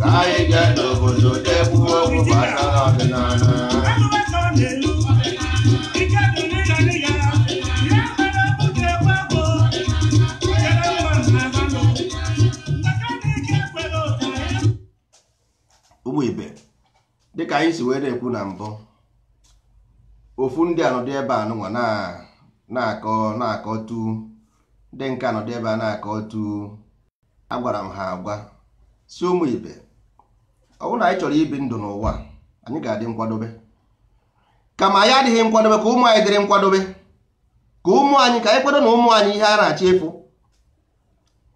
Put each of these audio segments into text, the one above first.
ka anyị jee n'obodo jee kwuo okwu gbasara ọdịnala ụmụ ibe dịka anyị si wee na-ekwu na mbụ ofu ndị anọdụ ebe a nụnwa na- na-akọ na-akọtu ndị nke anọdụ ebe a na-akọtu agwara m ha agwa sị ụmụ ibe ọ bụrụ na anyị chọrọ ibi ndụ n'ụwa anyị ga-adị nkwadobe kama anyị adịghị nkwadobe ka ụmụ anyị dịrị nkwadobe ka ụmụ anyị ka anyị kwado na ụmụ anyị ihe a na-achọ ịfụ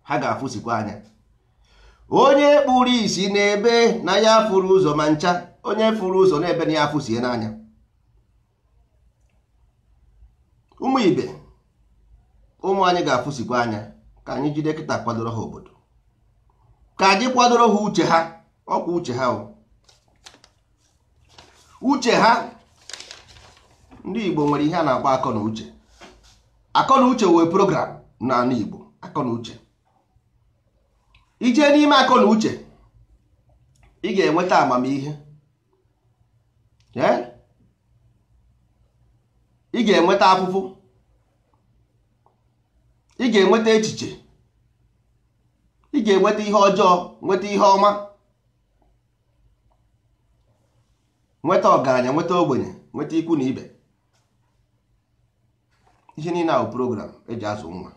ha ga-afụsikwa anya onye kpuru isi na-ebe na ya fụrụ ụzọ ma ncha onye fụrụ ụzọ na-ebe na ya afụsie n'anya ụmụ ibe ụmụ anyị ga-afụsikwa anya ka anyị jide kịta kwadoro ha obodo ka anyị kwadoro ha uche ha ọkwa uche ha o uche ha ndị Igbo nwere ihe a na-akpọ akọ na uche akọ na uche wụ a program n'ala Igbo akọ na uche i jee n'ime akọ na uche ị ga-enweta amamihe ị ga-enweta afụfụ ị ga-enweta echiche ị ga-enweta ihe ọjọọ nweta ihe ọma nweta ọgaranya nweta ogbenye nweta ikwu na ibe ihe niile a wụ program eji azụ nwa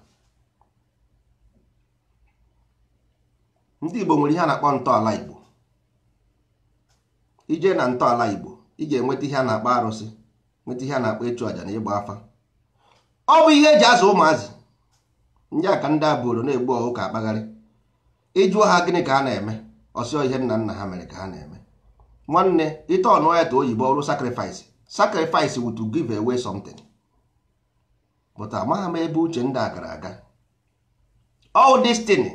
ndị Igbo nwere ihe a na-akpọ ntọala Igbo i jee na ntọala Igbo ị ga-enweta ihe a na-akpọ arụsị nweta ihe a na-akpọ ịchụ àjà na ịgba afa ọ bụ ihe eji azụ ụmụazị ndị a ka ndị a buru na-egbu ọkụkọ akpagharị ị jụọ ha gịnị ka ha na-eme ọ sị ọ ihe nna nna ha mere ka ha na-eme nwanne ị turnụọ ya to oyibo ọ wụrụ sacrifice sacrifice wụ to give away something but amaghị m ebe uche ndị a gara aga all this thing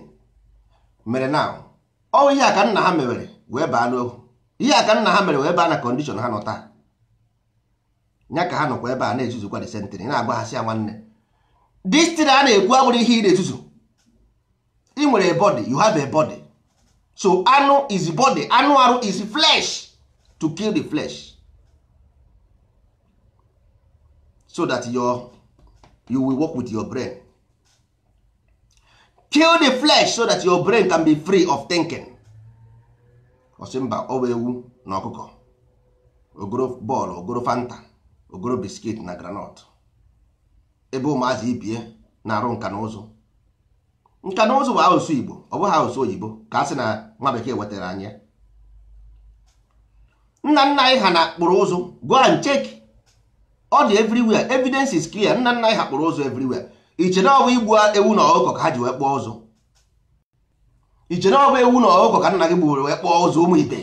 mere na ọ ihe a ka nna ha mewere wee baa n'ohu ihe a ka nna ha mere wee baa na condition ha nọ taa nya ka ha nọkwa ebe a na-ezuzukwa this century na-agwa ha sị ya nwanne this thing a na-ekwu abụrụ ihe ị na-ezuzu ị nwere a body you have a body so anụ is body anụ arụ is flesh to kill the flesh so that your you will work with your brain kill the flesh so that your brain can be free of thinking ọ sị mba ọ bụ ewu na ọkụkọ o goro ball o goro fanta o goro biscuit na groundnut ebe ụmụazị ibie na-arụ nka na ụzụ nka na ụzụ bụ asụsụ Igbo ọ bụghị asụsụ oyibo ka a sị na nwa bekee wetara anyị ya nna nna anyị ha na kpụrụ ụzụ go and check ọ dị everywhere evidence is clear nna nna anyị ha kpụrụ ụzụ everywhere i che na ọ bụ igbu ewu na ọkụkọ ka ha ji wee kpụọ ụzụ i che na ọ bụ ewu na ọkụkọ ka nna gị gburu wee kpụọ ụzụ ụmụ ibe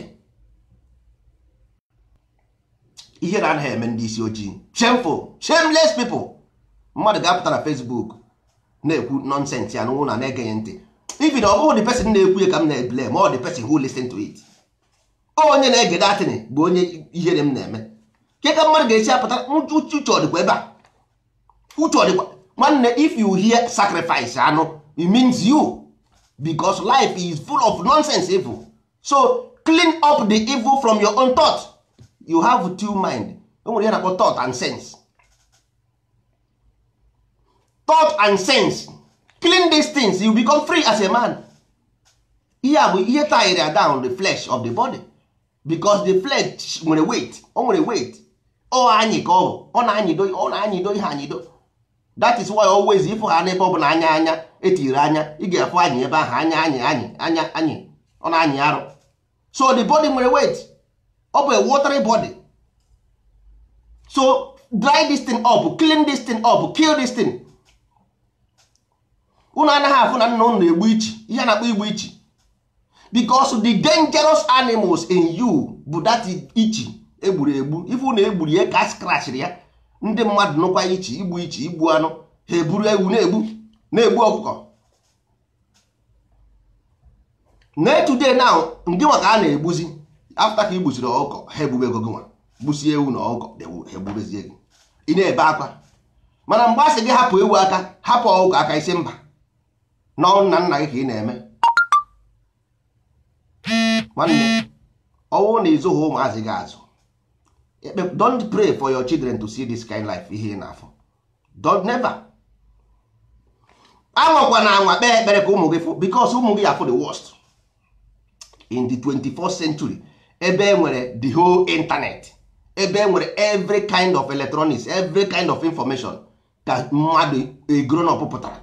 ihere anaghị eme ndị isi ojii shameful shameless people mmadụ ga-apụta na Facebook na-ekwu nonsense ị anọrọ na-ege ya ntị even ọ bụghị the person na-ekwu ya ka m na-eblame ọ the person who listen to it onye na-ege that thing bụ onye ihere m na-eme kee ka mmadụ ga-esi apụta uche ọ dịkwa ebe a uche ọ dịkwa nwanne if you hear sacrifice anụ it means you because life is full of nonsense evil so clean up the evil from your own thought you have two mind o nwere ihe a na-akpọ thought and sense thought and sense clean these things you become free as a man ihe a bụ ihe tire down the flesh of the body because the flesh nwere weight o nwere weight ọ anyị ka ọ bụ ọ na-anyịdo ọ na-anyịdo ihe anyịdo that is why always ị fụ ha n'ebe ọ bụla anya anya e tiri anya ị ga-afụ anyị ebe ahụ anya anyị anyị anya anyị ọ na-anyị arụ so the body nwere weight ọ bụ a watery body so dry this thing up clean this thing up kill this thing unu anaghị afụ na nna unu na-egbu ichi ihe a na-akpọ igbu ichi because the dangerous animals in you bụ that ichi e gburu egbu ị fụ na e gburu ya ka a scratchiri ya ndị mmadụ nụkwa ichi igbu ichi igbu anụ ha eburu ewu na-egbu na-egbu ọkụkọ na today now ngị nwa ka a na-egbuzi after ka i gbusiri ọkụkọ ha egbubego gị nwa gbusie ewu na ọkụkọ ha egbubezie gị ị na-ebe akwa mana mgbe a sị gị hapụ ewu aka hapụ ọkụkọ aka ị sị mba na ọ nna nna gị ka ị na-eme nwanne ọ bụrụ na ị zụghị ụmụazị gị azụ don't pray for your children to see this kind life ihe ị na-afụ don't never anwakwana anwa kpee ekpere ka ụmụ gị fụ because ụmụ gị ya-afụ the worst in the 24th century ebe e nwere the whole internet ebe e nwere every kind of electronics every kind of information ka mmadụ a grown up pụtara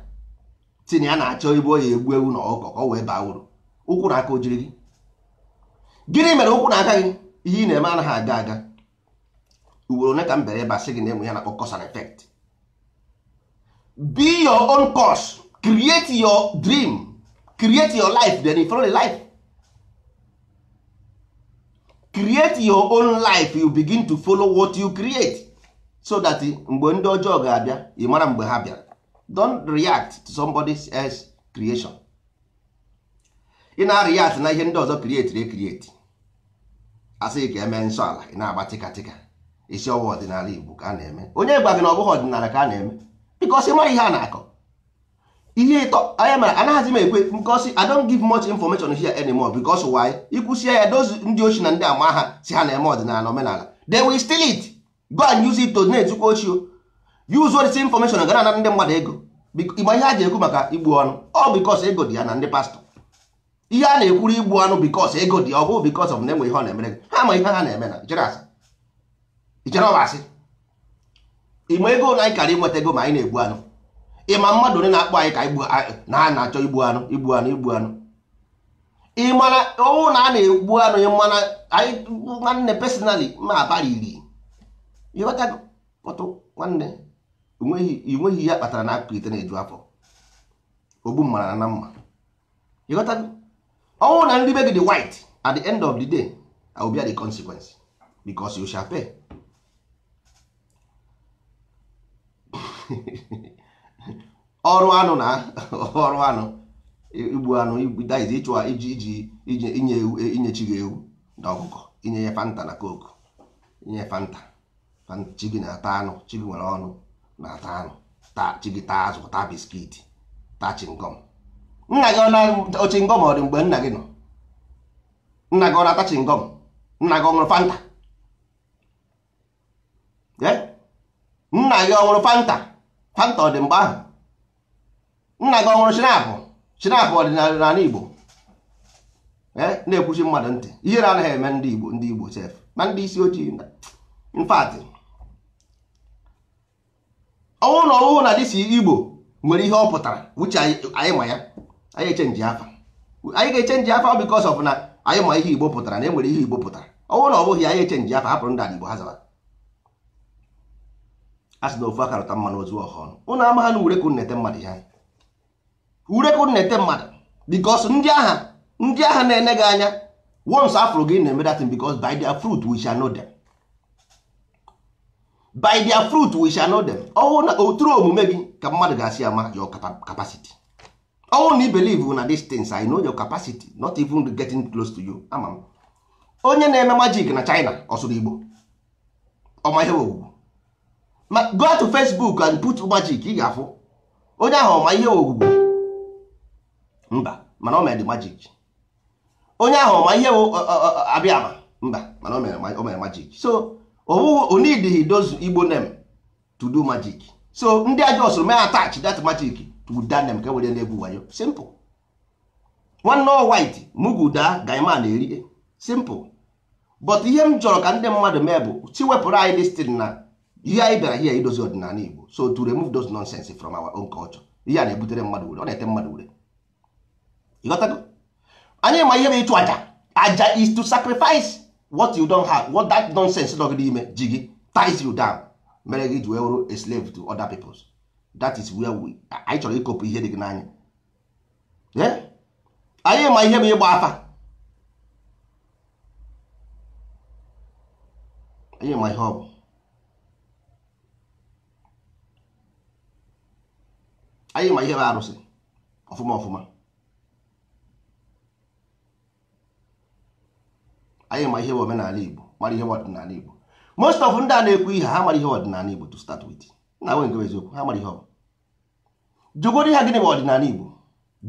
sị na ya na-achọ ebe ọ ya-egbu ewu na ọkụkọ ka ọ wee baa uru ụkwụ na aka o jiri gị gịnị mere ụkwụ na aka gị ihe ị na-eme anaghị aga aga ugboro ole ka m bịara ebe a sị gị na e nwere ihe a na-akpọ cause and effect be your own cause create your dream create your life then you follow the life create your own life you begin to follow what you create so that mgbe ndị ọjọọ ga-abịa ị mara mgbe ha bịara don't react to somebody else creation ị na react na ihe ndị ọzọ createre create a sị gị ka e mee nsọ ala ị na-agba tịkatịka ị sị ọ wụ ọdịnala Igbo ka a na-eme onye gwa gị na ọ bụghị ọdịnala ka a na-eme because ị mara ihe a na-akọ ihe ịtọ anya mara anaghịzi m ekwe because I don't give much information here anymore because why i kwusịa ya those ndị oshi na ndị ama ahụ sị ha na-eme ọdịnala omenala they will steal it go and use it to na-ezukwa oshi use all this information ga na-ana ndị mmadụ ego ị ma ihe e ji ekwu maka igbu anụ ọ because ego dị ya na ndị pastọ ihe a na-ekwuru igbu anụ because ego dị ọ bụghị because of na enwe ihe ọ na-emere gị ha ma ihe ha na-eme na i chere asị i chere ọ asị ị ma ego na anyị karị nweta ego ma anyị na-egbu anụ ị ma mmadụ ole na-akpọ anyị ka na ha na-achọ igbu anụ igbu anụ igbu anụ ị ma na ọ wụrụ na a na-egbu anụ ị ma na anyị nwanne personally ma abara iri ị ghọtago but nwanne enweghị ihe a kpatara na akụkụ ite na-eju afọ ogbu mma ala na mma ị ghọtago ọ wụrụ na ndị be gị dị white at the end of the day I will bear the consequence because you shall pay ọrụ anụ na ọrụ anụ igbu anụ that is ịchụ iji iji iji inye inye chi gị ewu na ọkụkọ inye ya fanta na coke inye fanta chi gị na-ata anụ chi gị nwere ọnụ na-ata anụ chi gị taa azụ taa biskiti taa chingọm nna gị ọ na chingọm ọ dị mgbe nna gị nọ nna gị ọ na-ata chingọm nna gị ọ ṅụrụ fanta nna gị ọ ṅụrụ fanta fanta ọ dị mgbe ahụ nna gị ọ ṅụrụ schnapp schnapp ọdịnala igbo eh, na-ekwuchi mmadụ ntị ihere anaghị eme ndị igbo ndị igbo sef ma ndị isi ojii in fact ọ wụrụ na ọ wụ na this igbo nwere ihe ọ pụtara which anyị ma ya anyị echenji afa anyị ga-echenji afa because of na anyị ma ihe igbo pụtara na enwere ihe igbo pụtara ọ wụrụ na ọ bụghị anyị echenji afa hapụrụ ndị ala igbo ha zaba a sị na ofu aka rụta mmanụ o zuo ọha ọnụ ụnụ amaha na ure ka na-ete mmadụ ya ure ka na-ete mmadụ because ndị ahụ ndị ahụ na-ene gị anya once a fụrụ gị na-eme that thing because by their fruit we shall know them by their fruit we shall know them ọ wụ na through omume gị ka mmadụ ga-esi ama your capacity ọ wụrụ na i believe na these things I know your capacity not even getting close to you ama m onye na-eme magic na China ọ sụrụ Igbo ọ ma ihe Ogwugwu go to Facebook and put magic ị ga-afụ onye ahụ ọ ma ihe Ogwugwu mba mana o mere magic onye ahụ ọ ma ihe Abịama mba mana o mere magic so o needighị those Igbo name to do magic so ndị ajọ soro mee attach that magic to that name ka e were na-egwu wayo simple nwanne ọ white mugu daa guy man erie simple but ihe m chọrọ ka ndị mmadụ mee bụ si wepụrụ anyị this thing na ihe anyị bịara here idozi ọdịnala Igbo so to remove those nonsense from our own culture ihe a na-ebutere mmadụ ure ọ na-ete mmadụ ure ịghọtago anyị ma ihe bụ ịchụ aja aja is to sacrifice what you don't have what that nonsense nọ gị n'ime ji gị ties you down mere gị ji wee wụrụ a slave to other peoples that is where we anyị chọrọ ịkopụ ihe dị gị n'anya anyị ma ihe bụ ịgba afa anyị ma ihe ọ bụ anyị ma ihe bụ arụsị ọfụma ọfụma anyị ma ihe bụ omenala Igbo mara ihe bụ ọdịnala Igbo most of ndị a na-ekwu ihe ha mara ihe ọdịnala Igbo to start with na nwe nke eziokwu ha mara ihe ọ bụ jụgodu ha gịnị bụ ọdịnala Igbo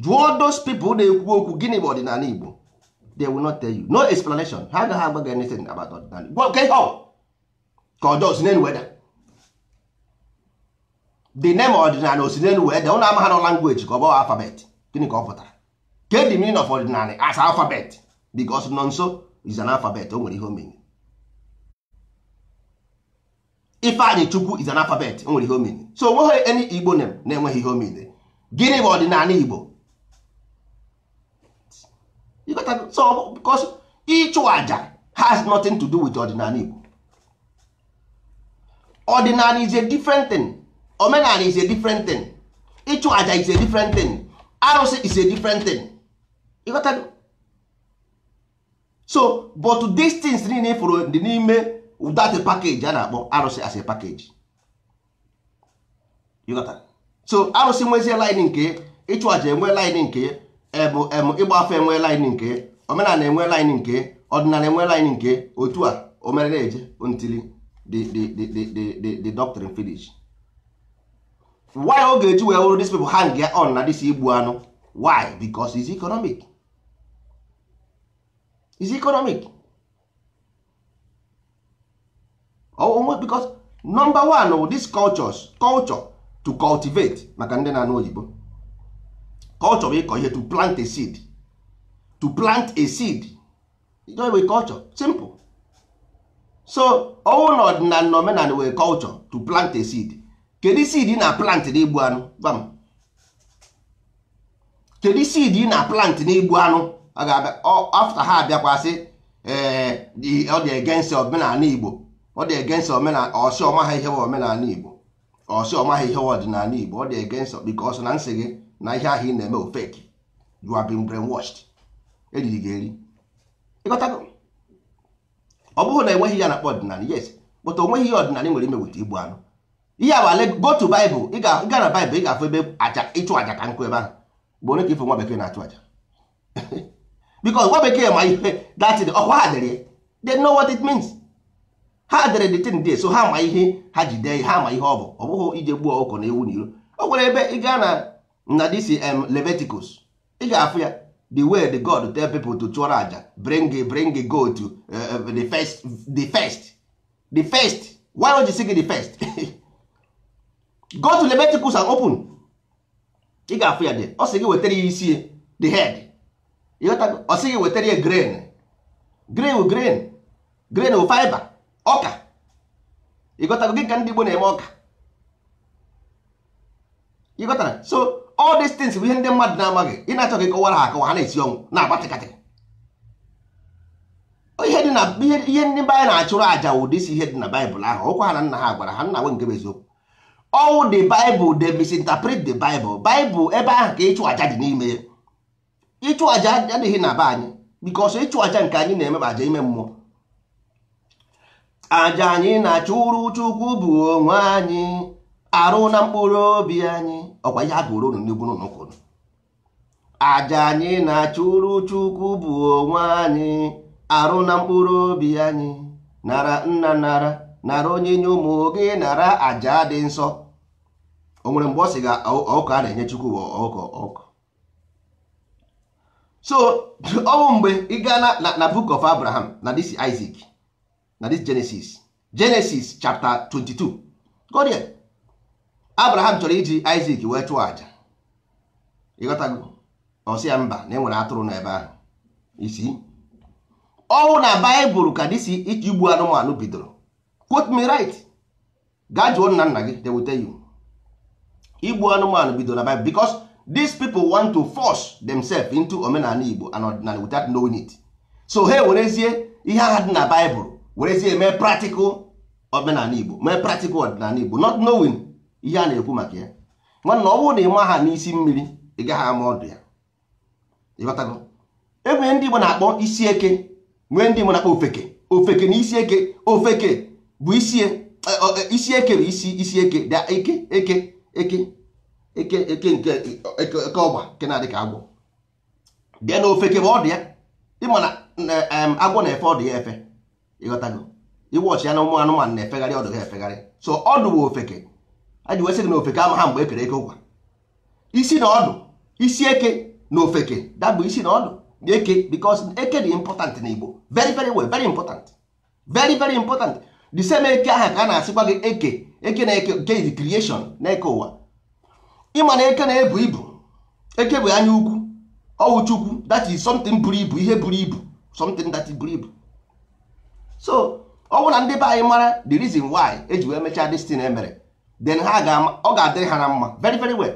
jụọ those people na-ekwu okwu gịnị bụ ọdịnala Igbo they will not tell you no explanation ha agaghị agwa gị anything about ọdịnala Igbo nke ihe ọ ka a jụọ o si n'elu wee daa the name ọdịnala o si n'elu wee daa ụnụ amaghị na language ka ọ bụ alphabet gịnị ka ọ pụtara kee the meaning of ọdịnala as alphabet because Nọnso is an alphabet o nwere ihe o mean Ifeanyịchukwu is an alphabet o nwere ihe o mean so onweghị any igbo name na-enweghị ihe o mean gịnị bụ ọdịnala igbo so because ịchụ aja has nothing to do with ọdịnala Igbo ọdịnala is a different thing omenala is a different thing ịchụ aja is a different thing arụsị is a different thing ịghọtago so but these things niile fụrụ dị n'ime that package a na-akpọ arụsị as a package so arụsị nwezie line nke ịchụ aja enwe line nke bụ em ịgba afa enwe line nke omenala enwe line nke ọdịnala enwe line nke otu a o mere na-eje until the doctrine finish why ọ ga-eji wee wụrụ these people hang ya on na this igbu anụ why because is economic is economic onwe because number one wụ this cultures culture to cultivate maka ndị na-anụ oyibo culture bụ ịkọ ihe to plant a seed to plant a seed ịchọghị bụ culture simple so ọ wụ na ọdịnala na omenala wụ culture to plant a seed kedu seed ị na plant n'igbu anụ gwa m kedu seed ị na plant n'igbu anụ a ga-abịa after ha abịakwa sị ee eh, ọ dị against omenala igbo ọ dị against omenala ọ sị ọ maghị ihe bụ omenala igbo ọ sị ọ maghị ihe bụ ọdịnala igbo ọ dị against because na m sị gị na ihe ahụ ị na-eme ọ fake you have been brainwashed e riri gị eri ị ghọtago ọ bụghị na e nweghị ihe a na-akpọ ọdịnala yes but o nweghị ihe ọdịnala nwere ime with igbu anụ ihe abale go to Bible ị gaa na Bible ị ga-afụ ebe aja ịchụ aja ka nkụ ebe ahụ but onye ka ị fụ nwa bekee na-achụ aja because nwa bekee ma ihe that thing ọ kwa ha dere they know what it means ha dere the thing there so ha ma ihe ha ji dee ha ma ihe ọ bụ ọ bụghị ije gbuo ọkụkọ na ewu n'iro o nwere ebe ị gaa na na this um, Leviticus ị ga-afụ ya the way the God tell people to chụọrọ aja bring bring goat uh, uh, the first the first the first why don't you see the first go to Leviticus and open ị ga-afụ ya there ọ sị gị wetara ya isi the head ọ sị gị wetara ya grain grain grain grain fiber ọka ị ghọtara dị ka ndị Igbo na-eme ọka ị ghọtara so all these things bụ ihe ndị mmadụ na-amaghị ị na-achọ ka ị kọwara ha akọwa ha na-esi ọnwụ na-agba tịkatịkị ihe dị na ihe ndị be anyị na-achụrụ aja wụ this ihe dị na bible ahụ ọ kwa ha na nna ha gwara ha nna nwe nke bụ eziokwu ọ wụ the bible they misinterpret the bible bible ebe ahụ ka ịchụ aja dị n'ime ya ịchụ aja adịghị na be anyị because ịchụ aja nke anyị na-eme bụ aja ime mmụọ aja anyị na-achụrụ chukwu bụ onwe anyị arụ na mkpụrụ obi anyị ọ kwa ihe a gụrụ unu n'egwu n'ụka aja anyị na-achụrụ chukwu bụ onwe anyị arụ na mkpụrụ obi anyị nara nna nara nara onyinye ụmụ gị nara aja dị nsọ o nwere mgbe ọ sị gị ọkụkọ a na-enye chukwu ọkụkọ ọkụkọ so ọ wụ mgbe ị gaa na na book of abraham na this isaac na this genesis genesis chapter 22 go there abraham chọrọ iji isaac wee chụọ aja ị ghọtago ọ sị ya mba na e nwere atụrụ n'ebe ahụ you see ọ wụ na bible ka this igbu anụmanụ bidoro quote me right gaa jụọ nna nna gị they will tell you igbu anụmanụ bido na Bible because these people want to force themselves into omenala Igbo and ọdịnala without knowing it so ha werezie ihe aha dị na Bible werezie mee practical omenala Igbo mee practical ọdịnala Igbo not knowing ihe a na-ekwu maka ya nwanna ọ bụrụ na ị maha n'isi mmiri ị gaghị ama ọdụ ya ịghọtago enwere ndị Igbo na-akpọ isi eke nwee ndị Igbo na-akpọ ofeke ofeke na isi eke ofeke bụ isi e, e, isi eke bụ isi isi eke da eke eke eke eke eke nke eke ọgba nke na-adị ka agwọ then ofeke bụ ọdụ ya ịma na agwọ na-efe ọdụ ya efe ịghọtago ị watch ya na ụmụ anụmanụ na-efegharị ọdụ ha efegharị so ọdụ bụ ofeke a ji wee sị gị na ofeke amaha mgbe e kere eke ụkwa isi na ọdụ isi eke na ofeke da bụ isi na ọdụ na eke because eke dị important na Igbo very very well very important very very important the same eke aha ka a na-asịkwa gị eke eke na eke nke is creation na eke ụwa ịma na eke na-ebu ibu eke bụ anya ukwu ọwụ chukwu that is something buru ibu ihe buru ibu something that buru ibu so ọ bụ na ndị be anyị mara the reason why eji wee mechaa this thing emere then ha ga ọ ga-adịrị ha na mma very very well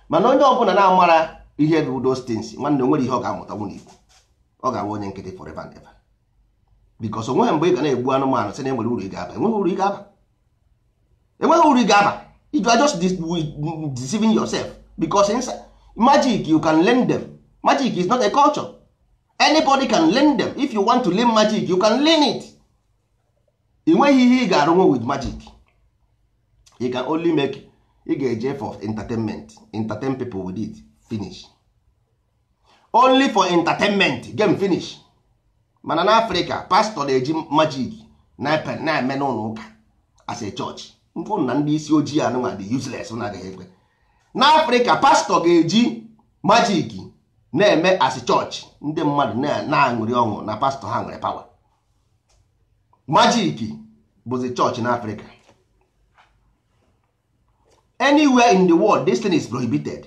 mana onye ọbụla na-amara ihe bụ those things nwanne o nwere ihe ọ ga-amụtanwu n'Igbo ọ ga-abụ onye nkịtị forever and ever because onweghị mgbe ị ga na-egbu anụmanụ sị na enwere uru ị ga-aba enweghị uru ị ga-aba enweghị uru ị ga-aba you are just deceiving yourself because magic you can learn them magic is not a culture anybody can learn them if you want to learn magic you can learn it ị nweghị ihe ị ga-arụnwu with magic you can only make ị ga-eji for entertainment entertain people with it finish only for entertainment game finish mana na Africa pastor na-eji magic na-eme n'ụlọ ụka as a church mfụ na ndị isi ojii anụnwa dị useless na agaghị ekwe na Africa pastor ga-eji magic na-eme as church ndị mmadụ na-aṅụrị ọṅụ na pastor ha nwere power magic bụzi church na Africa anywhere in the world this thing is prohibited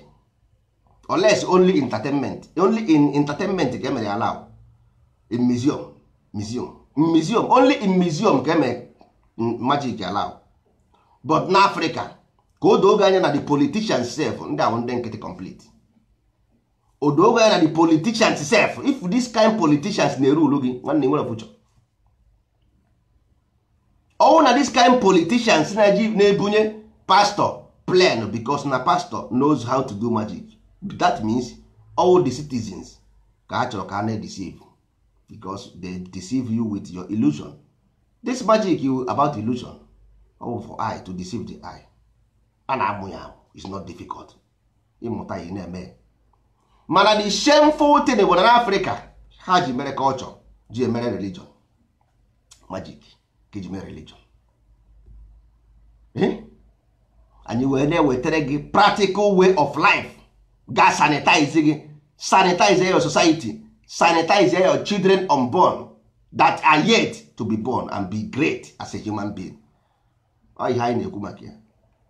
unless only entertainment only in entertainment ka emere allow in museum museum in museum only in museum ka emere magic allow but na Africa ka o doo gị anya na the politicians sef ndị a wụ ndị nkịtị complete o doo gị anya na the politicians sef if this kind politicians na-erule gị nwanne nwere future ọwụ na this kind politicians na-eji na-ebunye pastor plan because na pastor knows how to do magic that means all the citizens ka a chọrọ ka a na-deceive because they deceive you with your illusion this magic is about illusion ọwụ for eye to deceive the eye a na-amụ ya amụ is not difficult ị mụta ya ị na-eme mana the shameful thing bụ na africa ha ji mere culture ji mere religion magic ka ji mere religion eh? anyị wee na-ewetara gị practical way of life ga sanitize gị sanitize your society sanitize your children unborn that are yet to be born and be great as a human being ọ ihe anyị na-ekwu maka ya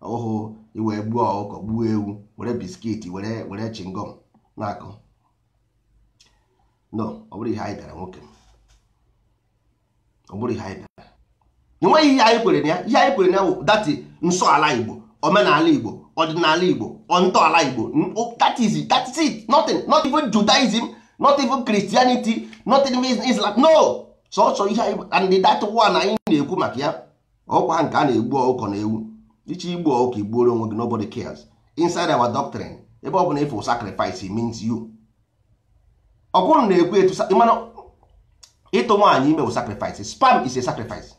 ọhụụ iwe gbuo ọkụkọ gbuo ewu were biscuit were were chingom na-akọ no ọ bụrọ ihe anyị bịara nwoke ọ bụrọ ihe anyị bịara enweghị ihe anyị kwere na ya ihe anyị kwere na ya bụ that nsọ ala igbo omenala igbo ọdịnala igbo ntọala igbo that is it that is it nothing not even judaism not even christianity not even islam no sọsọ ihe and that one anyị na-ekwu maka ya ọkwa nke a na-egbu ọkụkọ na ewu ị chọọ igbu ọkụkọ i gbuoro onwe gị nobody cares inside our doctrine ebe ọ bụla ị fụ sacrifice means you ọ bụrụ na ekwu etu mana ịtụ nwaanyị ime bụ sacrifice sperm is a sacrifice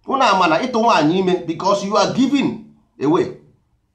unu ama na ịtụ nwaanyị ime because you are giving away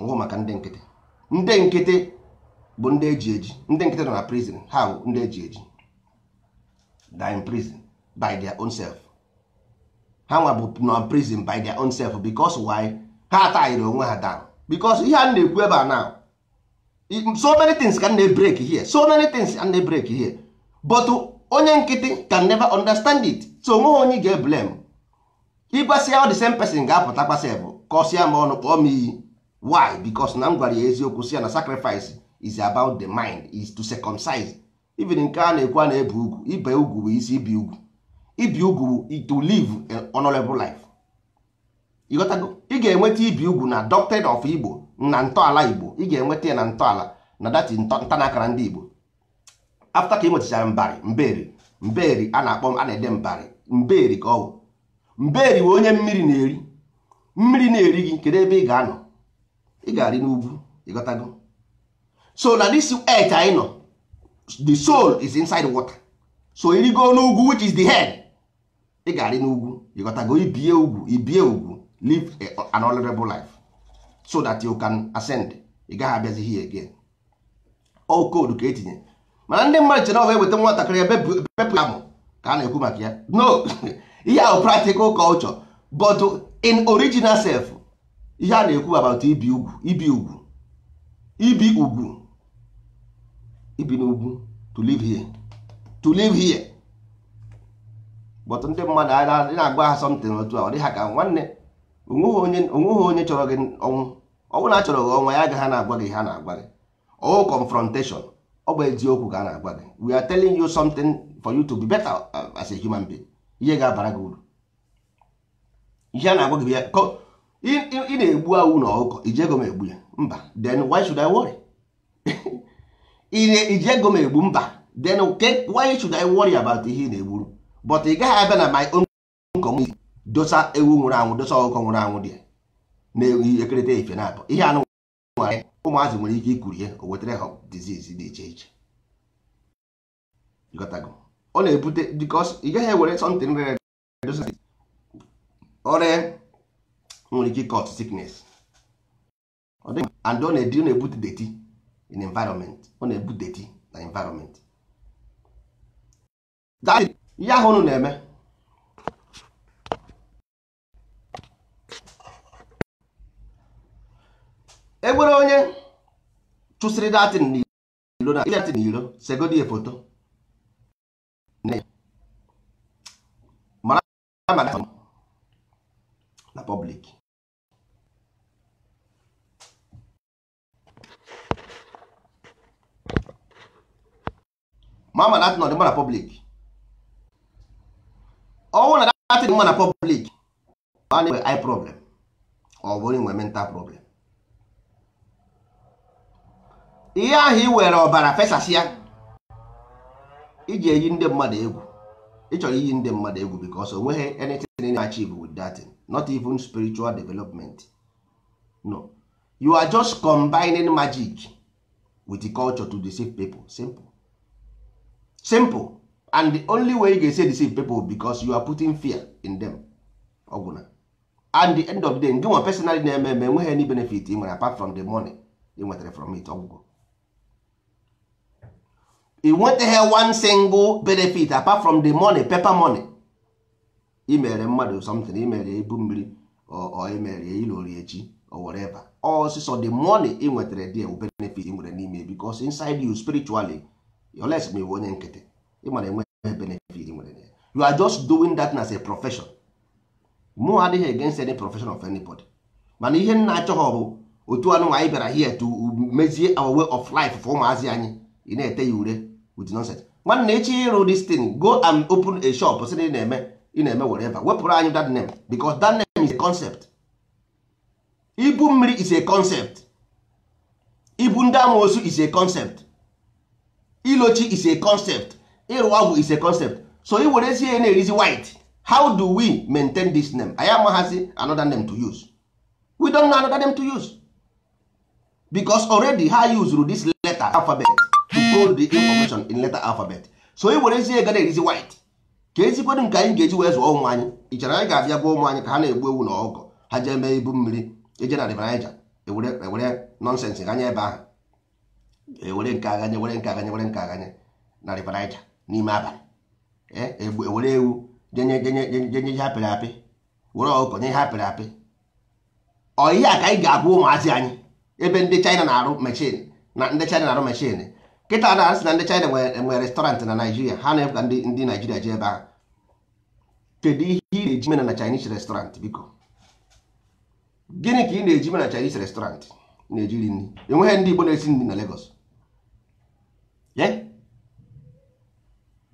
ọwụ maka ndị nkịtị ndị nkịtị bụ ndị eji eji ndị nkịtị nọ na prison ha bụ ndị eji eji they are in prison by their own self ha nwa bụ nọ prison by their own self because why ha tayiri onwe ha down because ihe a na-ekwu ebe a now so many things ka a na-ebreak here so many things ka a na-ebreak here but onye nkịtị can never understand it so onweghị onye ga blame ị gwasịa ọ the same person ga-apụta kwasịa bụ kọsịa m ọnụ kpọọ m iyi why because na m gwara ya eziokwu sị ya na sacrifice is about the mind is to circumcise even nke a na-ekwu a na-ebe ugwu ibe ugwu bụ isi ibi ugwu ibi ugwu to live an honorable life ịghọtago ị ga-enweta ibi ugwu na doctrine of igbo na ntọala igbo ị ga-enweta ya na ntọala na that ntanakara ndị igbo after ka ị nwetachara mbari mberi mberi a na-akpọ a na-ede mbari mberi ka ọ bụ mberi bụ onye mmiri na-eri mmiri na-eri gị kedu ebe ị ga-anọ ị ga-arị n'ugwu ịghọtago so na this earth anyị nọ the soul is inside water so ị rịgo n'ugwu which is the head ị ga-arị n'ugwu ịghọtago ibie ugwu ibie ugwu live an honorable life so that you can ascend ị gaghị abịazi here again ọ wụ code ka etinye mana ndị mmadụ chere ọ wụ eweta nwatakịrị bepụ ya amụ ka a na-ekwu maka ya no ihe ahụ practical culture but in original self ihe a na-ekwu about ibi ugwu ibi ugwu ibi n'ugwu to live here but ndị mmadụ a na-agwa ha something otu a ọ dị ha ka nwanne o nweghị onye chọrọ gị ọnwụ ọ wụrụ na achọrọ gị ọnwụ ya agaghị na-agwa gị ihe a na-agwa gị ọ wụghị confrontation ọ bụ eziokwu ka a na-agwa gị we are telling you something for you to be better uh, as a human being ihe ga-abara gị uru ihe a na-agwa gị ya ị na-egbu ewu na ọkụkọ iji ego m egbu ya mba then why should I worry iji ego m egbu mba then why should I worry about ihe ị na-egburu but ị gaghị abịa na my own community dosa ewu nwụrụ anwụ dosa ọkụkọ nwụrụ anwụ dị na-ewu ekerịta efe na-abụ ihe anụ nwere ụmụazị nwere ike ikuru ihe o wetara ha disease dị iche iche ọ na-ebute because ị gaghị ewere something rere ure ya nwere ike cause sickness and ọ na-edi ọ na-ebute dirty in environment ọ na-ebute dirty na environment ihe ahụ unu na-eme enwere onye chụsịrị that thing n'iro segodi ya foto nne mara maka na public mara ma that thing ọ dị mma na public ọ wụrụ na that thing dị mma na public ọ na-enwe eye problem ọ bụ onye nwe mental problem ihe ahụ ị were ọbara fesasịa iji eyi ndị mmadụ egwu ị chọrọ iyi ndị mmadụ egwu because o nweghị anything ị na-achieve with that thing not even spiritual development no you are just combining magic with the culture to deceive people simple and the only way ị ga-esi deceive people because you are putting fear in them ọ gwụna at the end of the day ngịnwa personally na-eme enweghị any benefit ị nwere apart from the money ị nwetara from it ọ gwụgo ị nwetaghị one single benefit apart from the money paper money imere mmadụ something imere ibu mmiri or imere ya ilo chi or whatever ọ sọsọ the money ị nwetara there wụ benefit ị nwere n'ime because inside you spiritually you are less ma ị wụ onye nkịtị ị mara enwe benefit ị nwere there you are just doing that as a profession mụ adịghị against any profession of anybody mana ihe m na-achọhọ bụ otu anụ anyị bịara here to mezie our way of life for ụmụazị anyị ị na-ete ya ure with nonsense nwanne ị chọọ ịrụ this thing go and open a shop sị na ị na-eme ị na-eme whatever wepụrụ anyị that name because that name is a concept ibu mmiri is a concept ibu ndị amoosu is a concept ilo chi is a concept ịrụ agwụ is a concept so i were zie na-erizi white how do we maintain this name anyị amaghazi another name to use we don't know another name to use because already ha usuru this letter alphabet to code the information in letter alphabet so i were zie ga na-erizi white kezikwedu nke anyị ga-eji wee zụọ ụmụ anyị i chere anyị ga-abịa gwa ụmụ anyị ka ha na-egbu ewu na ọkụkọ ha jee mee ibu mmiri eje na River Niger ewere ewere nonsense ganye ebe ahụ ewere nke a ganye were nke a ganye were nke a ganye na River Niger n'ime abalị ewere ewu jenye jenye jenye ihe apịrị apị were ọkụkọ nye ihe apịrị apị ọ ihe a ka anyị ga-agwa ụmụazị anyị ebe ndị China na-arụ machine na ndị China na-arụ machine kịta na a sị na ndị China nwere restaurant na Naijiria ha na-ebuga ndị ndị Naijiria jee ebe ahụ kedu ihe ị na-eje ime na na Chinese restaurant biko gịnị ka ị na-eje ime na Chinese restaurant na-eje iri nri enweghị ndị Igbo na-esi nri na Lagos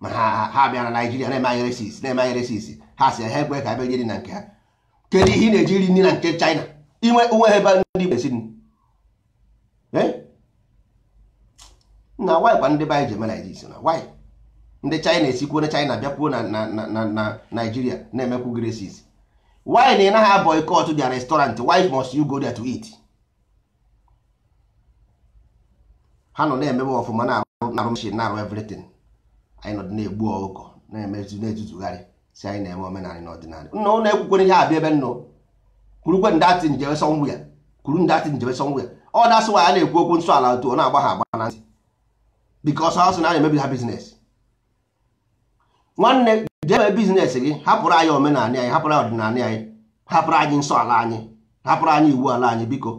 ma ha bịa na Naijiria na-eme anyị racist na-eme anyị racist ha sị ha ekwe ka abịa jiri na nke ha kedu ihe ị na-eje iri nri na nke China inwe o nwehe ebe ndị Igbo esi nri eh? na why kwa ndị be anyị ji eme Naịjirịa na why ndị china esikwuo na china bịakwuo na na naijiria na-emekwu racist why na ị naghị boycott their restaurant why must you go there to eat ha nọ na-emebe ọfụma na-arụ machine na-arụ everything anyị nọ na-egbu ọkụkọ na-emezu na-ezuzugharị sị anyị na-eme omenala na ọdịnala nna ụnụ ekwukwere ihe abịa ebe nnụ kwurukwe ndị atị njebe sọnwụ ya kwuru ndị atị njebe sọnwụ ya that's why a na-ekwu okwu nsọ ala otu ọ na-agba ha agba na ntị because ha sị na a na-emebi ha business nwanne jebe business gị hapụrụ anyị omenala anyị hapụrụ anyị ọdịnala anyị hapụrụ anyị nsọ ala anyị hapụrụ anyị iwu ala anyị biko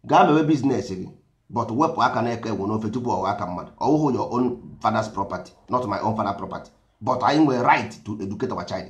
gaa mebe business gị but wepụ aka nke enwe n'ofe tupu ọ wụọ aka mmadụ ọwụhụ your own father's property not my own father property but anyị nwere right to educate our child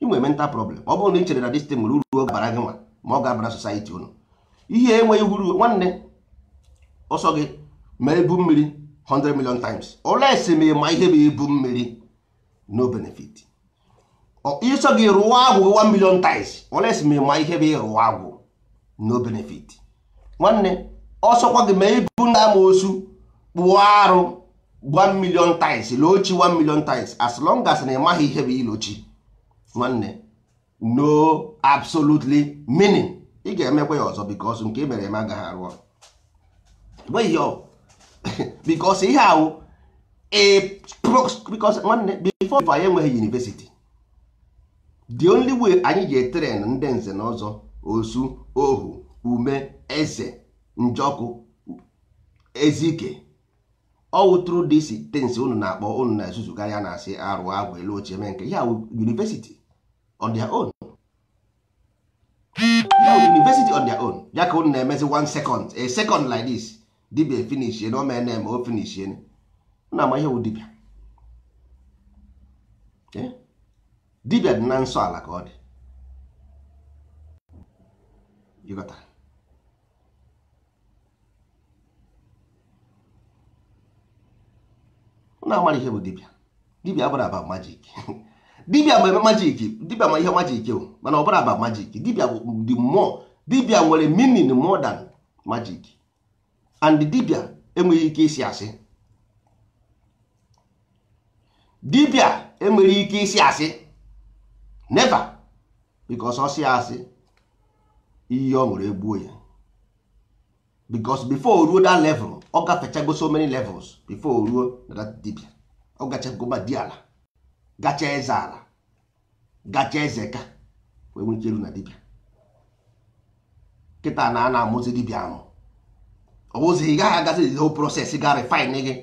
ị nwere mental problem ọ bụrụ na ị chere na this thing nwere uru ọ ga-abara gị nwa ma ọ ga-abara society unu ihe enweghị uru nwanne ọ sọ gị mee ibu mmiri 100 million times unless ma ị ma ihe bụ ibu mmiri no benefit ọ sọ gị rụọ agwụ 1 million times unless ma ị ma ihe bụ ịrụ agwụ no benefit nwanne ọ sọkwa gị mee ibu ndị amoosu kpụọ arụ 1 million times loo chi 1 million times as long as na ị maghị ihe bụ ilo chi nwanne no absolutely meaning ị ga-emekwa ya ọzọ because nke e mere eme agaghị arụ ọrụ nweghị ọ because ihe ahụ because nwanne before anyị enwee university the only way anyị ji etrain ndị nze na ọzọ osu ohu ume eze njọkụ ezike ọ wụ through these things unu na-akpọ unu na-ezuzugharị na-asị a rụọ agwụ e loo chi e mee nke a university on their own university on their own ya ka unu na-emezi one second a second like this dibia efinishie na ome na-eme o finishie na ama ihe wụ dibia eh? dibia dị na nsọ ala ka ọ dị ị ghọtara na amara ihe bụ dibia dibia abụrọ about magic dibia ma eme magic dibia ma ihe magic o mana ọ bụrọ about magic dibia bụ the more dibia nwere meaning more than magic and dibia enweghị ike ịsị asị dibia enweghị ike ịsị asị never because ọ sịa asị ihe o nwere egbuo ya because before o ruo that level ọ gafechago so many levels before o ruo na that dibia ọ gachago ma di ala gacha eze ala gacha eze ka wee nwee ike iru na dibịa kịta na a na-amụzi dibịa amụ ọ bụzi ị gaghị agazi the whole process ga refine gị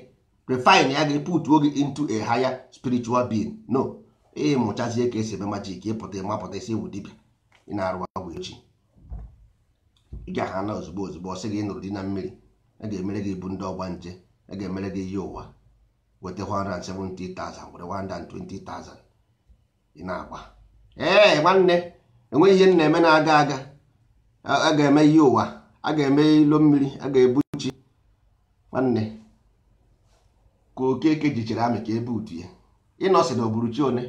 refine ya gị putuo gị into a higher spiritual being no ị mụchazie ka e si eme magic ị pụta ị mapụta ị sị ị wụ dibịa ị na-arụ agwụ echi ị ga-ahụ na ozugbo ozugbo ọ sị gị ị nụrụ di na mmiri a ga-emere gị ibu ndị ọgbanje a ga-emere gị iyi ụwa weta 170,000 weta 120,000 ị na-agba ee nwanne enweghị ihe na-eme na-aga aga a ga-eme iyi ụwa a ga-eme ilo mmiri a ga-ebu chi nwanne ka okeke jichere amị ka ebe utu ya ịnọsị na o buru chi one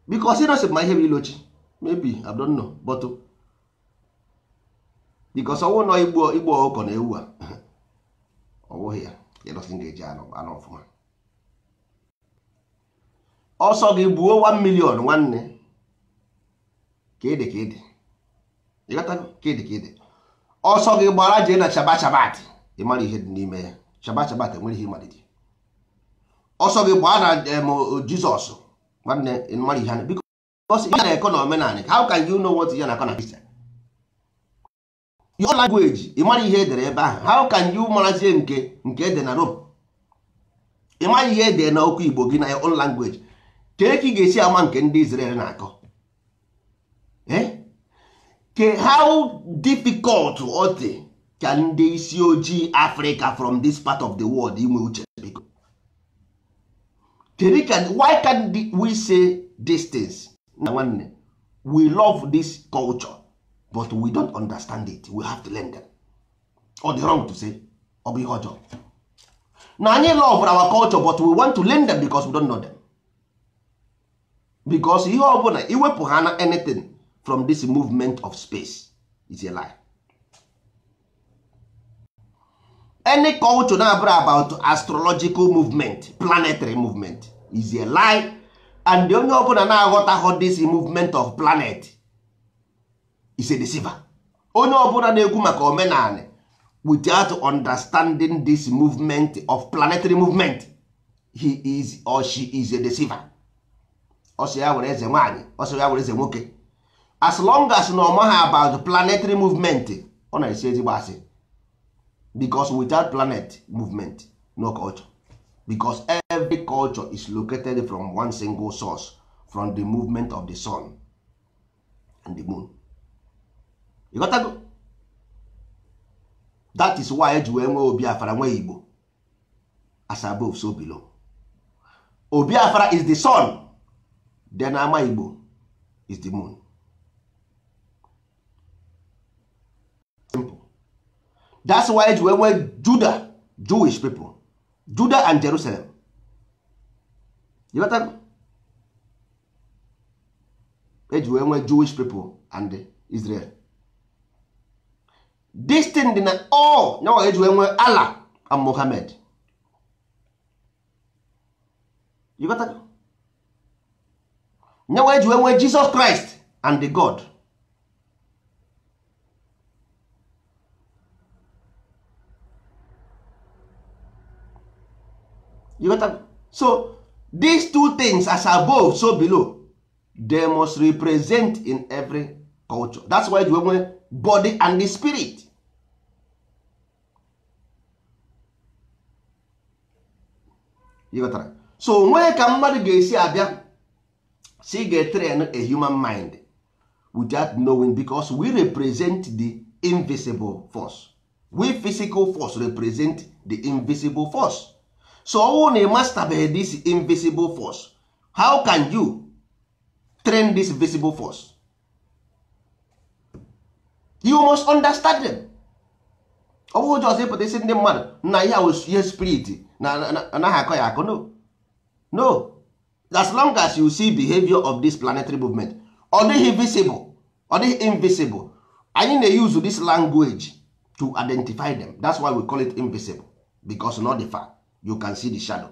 because ịnọsị ma ihe bụ ilo chi maybe I don't know but because ọ wụ nọ igbu igbu ọkụkọ na ewu a ọ bụghị ya ịdọsị m ga-eji anọ ọfụma ọ sọ gị gbuo 1 million nwanne ka ị dị ka ị dị ịghọtago ka ị dị ka ị dị ọ sọ gị gbara jee na shaba shabat ị mara ihe dị n'ime ya shaba shabat enwere ihe ịmalite ọ sọ gị gbaa na em, jizọs nwanne ị mara ihe a na- biko because ihe na-akọ na omenala how can you know what ihe na-akọ na Christian your language ị mara ihe edere ebe ahụ how can you marazie nke nke ede na Rome ị mara ihe ede na okwu Igbo gị na your own language kee ka ị ga-esi ama nke ndị Israel na-akọ eh? ke how difficult ọ dị ka ndị isi ojii Africa from this part of the world inwe uche biko kedu ka why can't we say these things na nwanne we love this culture but we don't understand it we have to learn them ọ dị wrong to say ọ bụ ihe ọjọọ na anyị love our culture but we want to learn them because we don't know them because ihe ọ bụla iwepụ ha na anything from this movement of space is a lie any culture na-abụrọ about astrological movement planetary movement is a lie and onye ọbụna na-aghọtaghọ this movement of planet is a deceiver onye ọbụna na-ekwu maka omenanị without understanding this movement of planetary movement he is or she is a deceiver ọ sọ ya wụrụ eze nwaanyị ọ sọ ya wụrụ eze nwoke as long as na ọ mahọ about planetary movement ọ na-asị ezigbo asị because without planet movement no culture because every culture is located from one single source from the movement of the sun and the moon ịghọtago? that is why eji wee nwee obi afara nwee igbo as above so below obi afara is the sun then ama igbo is the moon simple that's why eji wee nwee judah jewish people judah and jerusalem ịghọtago eji wee nwee jewish people and israel this thing dị na all nyawa eji wee nwee Allah and Muhammad you got that? nyawa eji wee nwee Jesus Christ and the God you got that? so these two things as above so below they must represent in every culture that's why e ji nwee body and the spirit ị ghọtara so nwee ka mmadụ ga-esi abịa sị ga-etrain a human mind without knowing because we represent the invisible force we physical force represent the invisible force so ọ wụ na ị mastabeghị this invisible force how can you train this visible force you must understand them ọ bụghị just ịpụta ịsị ndị mmadụ na ihe a wụ ihe spirit na anaghị akọ ya akọ no no as long as you see behavior of this planetary movement ọ dịghị visible ọ dịghị invisible anyị na-use this language to identify them that's why we call it invisible because not the fact you can see the shadow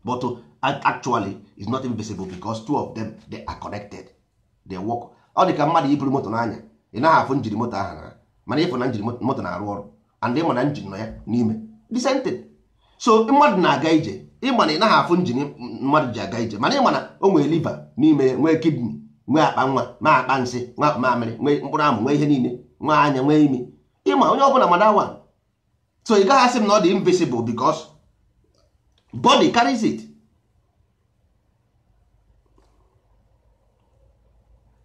but actually is not invisible because two of them they are connected they work ọ dị ka mmadụ ị buru moto na-anya ị naghị afụ njin moto ahụ na mana ị fụ na njin moto na-arụ ọrụ and ị ma na njin nọ ya n'ime the same thing so mmadụ na-aga ije ị ma na ị naghị afụ njin mmadụ ji aga ije mana ị ma na o nwere liver n'ime nwee kidney nwee akpa nwa nwee akpa nsị nwee akpa mamịrị nwee mkpụrụ amụ nwee ihe niile nwee anya nwee imi ị ma onye ọbụla ma that one so ị gaghị asị m na ọ dị invisible because body carries it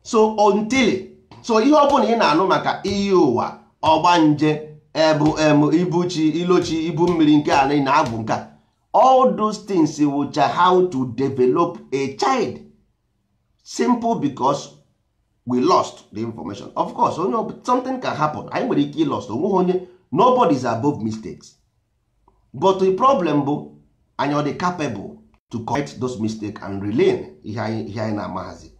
so until so ihe ọ bụla ị na-anụ maka iyi ụwa ọgbanje ebu em ibu chi ilo chi ibu mmiri nke a na agwụ nke all those things wụcha how to develop a child simple because we lost the information of course onye something can happen anyị nwere ike ịlost o nweghị onye nobody is above mistakes but the problem bụ anyị ọ dị capable to correct those mistakes and relearn ihe anyị na-amaghazi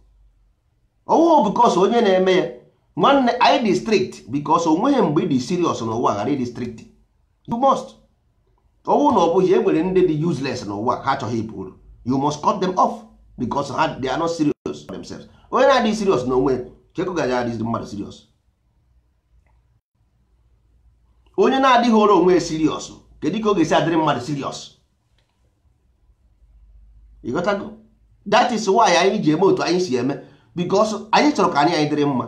ọ wụghụ because onye na-eme ya nwanne anyị dị strict because o nweghị mgbe ị dị serious n'ụwa ghara ịdị strict you must ọ wụ na ọ bụghị e nwere ndị dị useless n'ụwa ha achọghị ịba uru you must cut them off because ha they are not serious for themselves onye na-adịghị serious n'onwe kee ka ọ ga-eji adịrị mmadụ serious onye na-adịghịrị onwe serious kedu ka ọ ga-esi adịrị mmadụ serious ị ghọtago that is why anyị ji eme otu anyị si eme because anyị chọrọ ka anyị anyị dịrị mma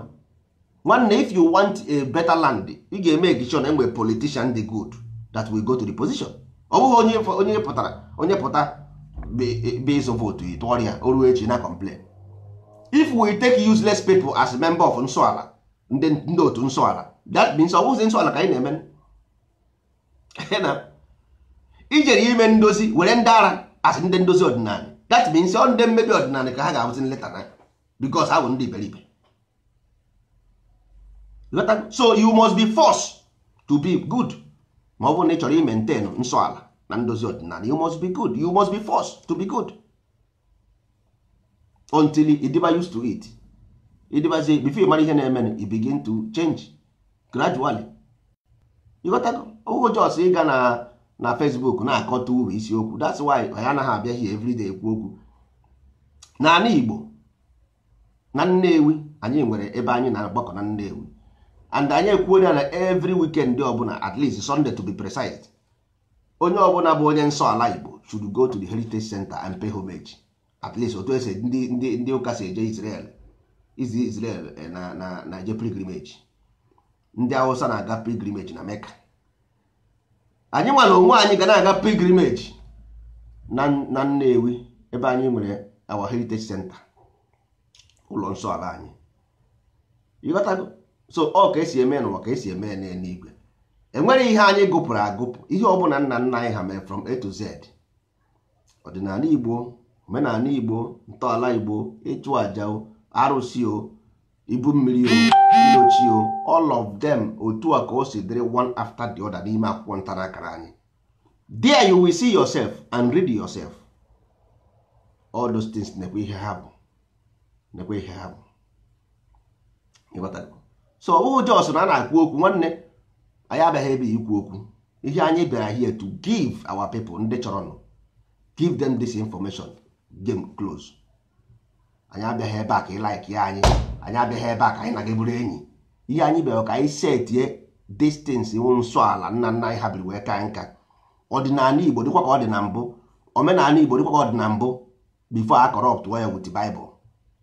nwanne if you want a better land ị ga-emake sure na e nwee politician dị good that will go to the position ọ bụghị onye onye pụtara onye pụta bịa ịzụ vootu tụọrọ ya o ruo echi na-complain if we take useless people as member of nsọala ndị otu nsọala that means ọ bụghịzi nsọala ka anyị na-eme ijere ime ndozi were ndị ara asị ndị ndozi ọdịnala that means ọ ndị mmebi ọdịnala ka ha ga-abụzi nleta na because ha bụ ndị iberibe so you must be forced to be good ma ọ bụrụ na ị chọrọ imentain nsọ ala na ndozi ọdịnala you must be good you must be forced to be good until ịdịba used to it ịdịbazie before ịmara ihe na-eme you begin to change gradually ịghọtago ọ bụghị just ịga na na Facebook na-akọta uru isiokwu that's why anyị anaghị abịa here everyday ekwu okwu n'ala Igbo na Nnewi anyị nwere ebe anyị na-agbakọ na Nnewi and anyị ekwuola na every weekend ọbụla at least Sunday to be precise onye ọbụla bụ onye nsọ ala Igbo should go to the heritage center and pay homage at least otu esi ndị ndị ndị ụka si eje Israel izi Israel eh, na na na-eje pilgrimage ndị Hausa na-aga pilgrimage na Mecca anyị nwa n'onwe anyị ga na-aga pilgrimage na na Nnewi ebe anyị nwere our heritage center ụlọ nsọ ala anyị ịghọtago so ọ ka esi eme n'ụwa ka esi eme n'eluigwe enwere ihe anyị gụpụrụ agụpụ ihe ọbụla nna nna anyị ha mere from A to Z ọdịnala Igbo omenala Igbo ntọala Igbo ịchụ aja o arụsị o ibu mmiri o ịlọ chi o all of them otu a ka o si dịrị one after the other n'ime akwụkwọ ntara akara anyị there you will see yourself and read yourself all those things nekwa ihe ha bụ nekwa ihe ha bụ so ọ bụghị just na a na-akwu okwu nwanne anyị abịaghị ebe ikwu okwu ihe anyị bịara here to give our people ndị chọrọnụ give them this information game close anyị abịaghị ebe a ka ị like ya anyị anyị abịaghị ebe a ka anyị na gị bụrụ enyi ihe anyị bịara ka anyị setie these things iwu nsọ ala nna nna anyị ha biri wee ka nka ọdịnala igbo dịkwa ka ọ dị na mbụ omenala igbo dịkwa ka ọ dị na mbụ before a corrupt ya with Bible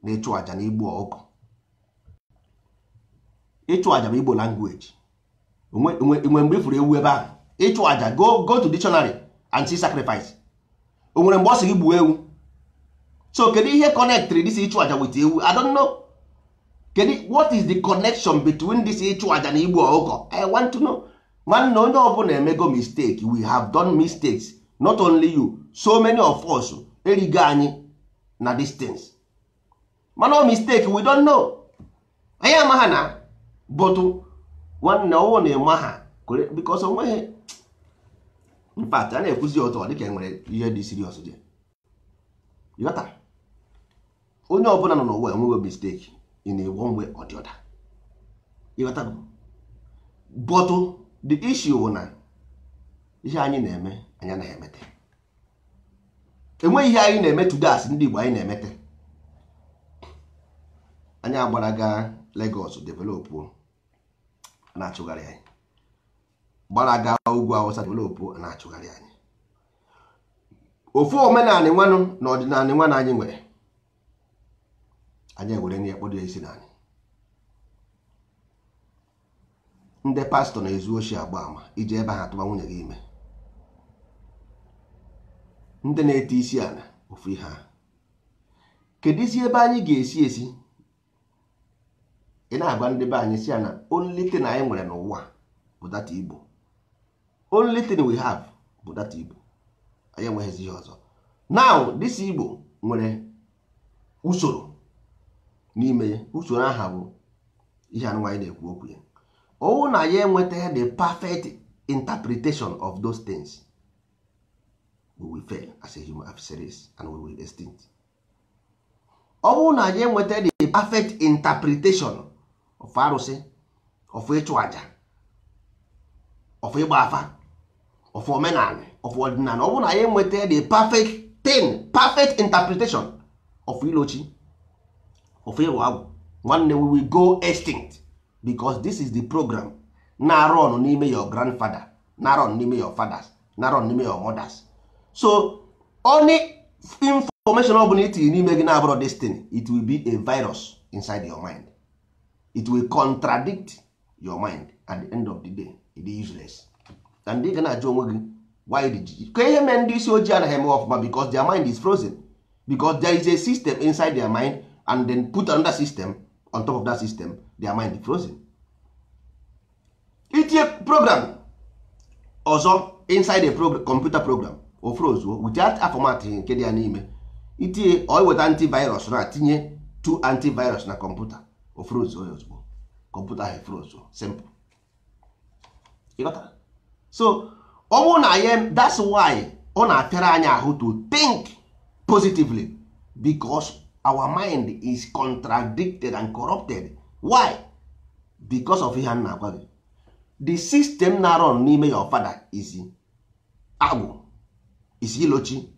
na ịchụ aja na igbu ọkụkọ ịchụ aja bụ igbo language o nwere mgbe ifuru ewu ebe ahụ ịchụ aja go go to dictionary and see sacrifice o nwere mgbe ọ sị gị gbuo ewu so kedu ihe connectri this ịchụ aja with ewu I don't know kedu what is the connection between this ịchụ aja na igbu ọkụkọ I want to know nwanne onye ọbụla emego mistake we have done mistakes not only you so many of us erigo anyị na these things mana ọ mistake we don't know anyị amaha na but nwanne ọwụ na ịma ha because onweghị in fact a na-ekwuzi otu ọ dịka enwere ihe dị serious dị ịghọta onye ọbụla nọ n'ụwa nwere mistake in a one way or the other ịghọta but the issue bụ na ihe anyị na-eme anyị na-emete enweghị ihe anyị na-eme today as ndị Igbo anyị na-emete anyị agbara gaa Lagos develop na-achụgharị anyị gbara gaa ugwu Awụsa develop na-achụgharị anyị ofu omenanị nwanụ na ọdịnanị nwanụ anyị nwere anyị ewere nya kpọdo ya isi n'anị ndị pastọ na-ezu oshi agba ama ije ebe ha tụba nwunye gị ime ndị na-eti isi ala ofu ihe ahụ keduzi ebe anyị ga-esi esi ị na-agwa ndị be anyị sị ya na only thing anyị nwere n'ụwa bụ that igbo only thing we have bụ that igbo anyị enweghịzi ihe ọzọ now this igbo nwere usoro n'ime ya usoro aha bụ ihe anụnwa anyị na-ekwu okwu ya ọwụ na anyị enweta the perfect interpretation of those things we will fail as a human species and we will extinct ọwụ na anyị enweta the perfect interpretation of arụsị of ịchụ aja of ịgba afa of omenala of ọdịnala ọ bụrụ na anyị enweta the perfect thing perfect interpretation of ilo chi of ịrụ agwụ nwanne we will go extinct because this is the program na-run n'ime your grandfather na-run n'ime your fathers na-run n'ime your mothers so any information ọ bụla itinye n'ime gị na-abụrọ this thing it will be a virus inside your mind it will contradict your mind at the end of the day it is useless and ị ga na-ajụ onwe gị why did you kee ihe mee ndị isi ojii anaghị eme ọfụma because their mind is frozen because there is a system inside their mind and then put another system on top of that system their mind is frozen itinye program ọzọ inside a computer program o frozuo without format nke dị ya n'ime itinye ọ weta antivirus na tinye two antivirus na kọmputa o frozuo ya ozugbo kọmputa ahụ efrozuo simple so ọwụ nya that's why ọ na-afịara anyị ahụ to think positively because our mind is contradicted and corrupted why because of ihe a na-agwa gị the system na-run n'ime your father is agwụ is ilochi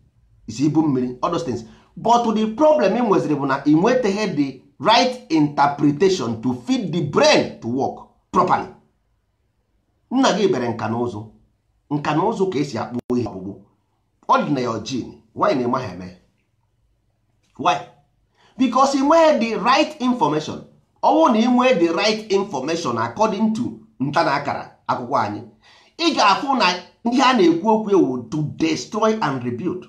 is ibu mmiri all those things but the problem ị nweziri bụ na ị nwetaghị the right interpretation to feed the brain to work properly nna gị bere nka na ụzụ nka na ụzụ ka e si akpụ ihe ọkpụkpụ ọ dị na your gene why na ị maghị eme why because ị nweghị the right information ọ wụrụ na ị nwee the right information according to nta na akara akwụkwọ anyị ị ga-afụ na ihe a na-ekwu okwu ewu to destroy and rebuild